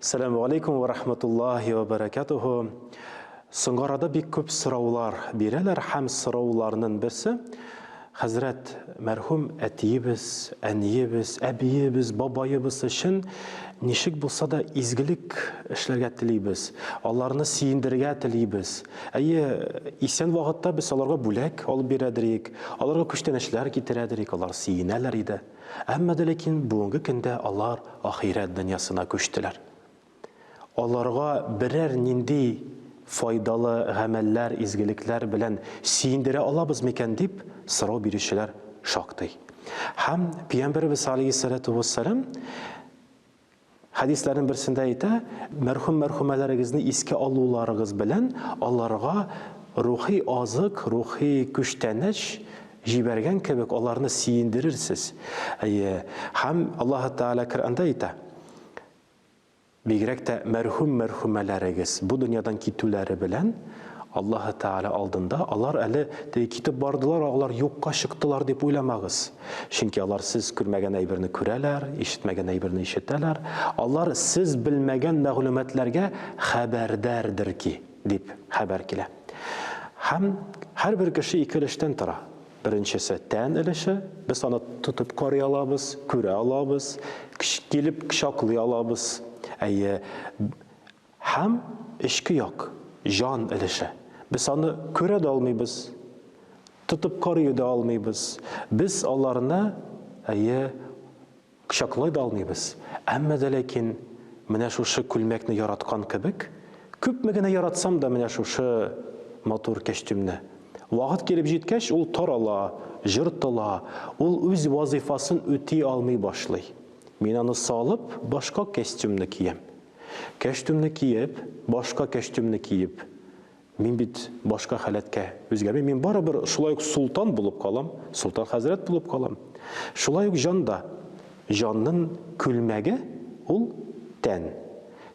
Сәләму алейкум ва рахматуллахи ва баракатуху. Соңгарада бик күп сораулар бирәләр һәм сорауларның берсе хәзрәт мәрхүм әтиебез, әниебез, әбиебез, бабаебыз өчен ничек булса да изгелек эшләргә телибез, аларны сөендерергә телибез. Әйе, исән вакытта без аларга бүләк алып бирәдер идек, аларга күчтәнәчләр китерәдер идек, алар сөенәләр иде. Әмма дә ләкин бүгенге көндә алар ахирәт дөньясына күчтеләр. Аларга берәр нинди файдалы гамәлләр, изгелекләр белән сөендерә алабыз микән дип сорау бирүчеләр шактый. Һәм Пиямбәребез алейһиссалату вәссәлам Хәдисләрнең берсендә әйтә, мәрхүм-мәрхүмәләрегезне искә алуларыгыз белән аларга рухи азык, рухи көчтәнәч җибәргән кебек аларны сөендерерсез. Әйе, һәм Аллаһы Тәгалә Коръәндә әйтә, бигрәк тә мәрхүм-мәрхүмәләрегез бу дөньядан китүләре белән Аллаһы Тәгалә алдында алар әле теге китеп бардылар, алар юкка чыктылар дип уйламагыз. Чөнки алар сез күрмәгән әйберне күрәләр, ишетмәгән әйберне ишетәләр. Алар сез белмәгән мәгълүматларга хәбәрдардыр ки, дип хәбәр килә. Һәм һәрбер кеше ике өлештән тора. Беренчесе, тән өлеше, без аны тотып карый алабыз, күрә алабыз, килеп кочаклый алабыз. Әйе, Һәм эчке як, җан өлеше. Без аны күрә дә алмыйбыз, тотып карый да алмыйбыз. Без аларны, әйе, кочаклый да алмыйбыз. Әмма дә ләкин менә шушы күлмәкне яраткан кебек, күпме генә яратсам да менә шушы матур кәчтүмне, вакыт килеп җиткәч, ул тарала, җыртыла, ул үз вазыйфасын үти алмый башлый. Мин аны салып, башка кәстүмне киям. Кәчтүмне киеп, башка кәчтүмне киеп, мин бит башка халәткә үзгәрмим, мин барыбер шулай ук солтан булып калам, солтан хәзрәт булып калам. Шулай ук җан да. Җаннын күлмәге, ул, тән.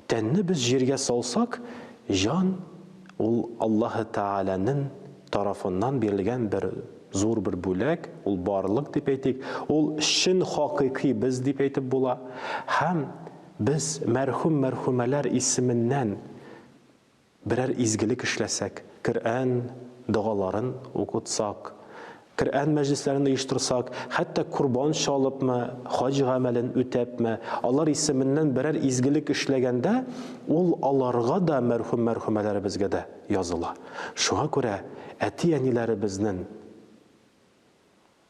Тәнне без җиргә салсак, җан, ул Аллаһы Тәгаләнен тарафыннан бирелгән бер зур бер бүләк, ул барлык дип әйтик, ул чын хакыйкый без дип әйтеп була. Һәм. Без мәрхүм-мәрхүмәләр исеменнән берәр изгелек эшләсәк, Коръән догаларын укытсак, Коръән мәҗлесләрен оештырсак, хәтта корбан чалыпмы, хаҗ гамәлен үтәпме, алар исеменнән берәр изгелек эшләгәндә, ул аларга да, мәрхүм-мәрхүмәләребезгә дә языла. Шуңа күрә әти-әниләребезнен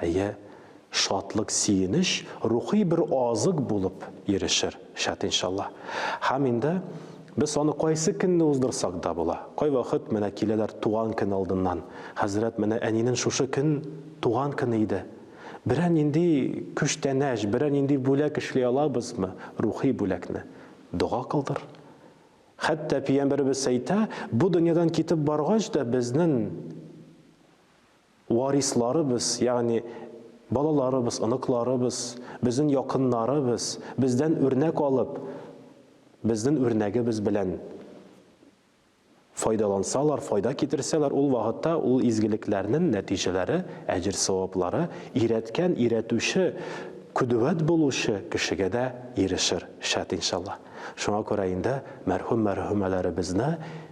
Әйе, шатлык, сөенеч рухи бер азык булып ирешер, шәт иншаллаһ. Һәм инде без аны кайсы көнне уздырсак да була. Кайвакыт менә киләләр туган көн алдыннан, Хәзрәт, менә әнинең шушы көн туган көне иде. Берәр нинди күчтәнәч, берәр нинди бүләк эшли алабызмы, рухи бүләкне? Дога кылдыр. Хәтта пиямбәребез әйтә, бу дөньядан китеп баргач да безнен Варисларыбыз, ягъни балаларыбыз, оныкларыбыз, безнең якыннарыбыз бездән үрнәк алып, безнең үрнәгебез белән файдалансалар, файда китерсәләр, ул вакытта ул изгелекләрнең нәтиҗәләре, әҗер-саваплары өйрәткән, өйрәтүче, көдүәт булучы кешегә дә ирешер, шәт, иншаллаһ. Шуңа күрә инде мәрхүм-мәрхүмәләребезне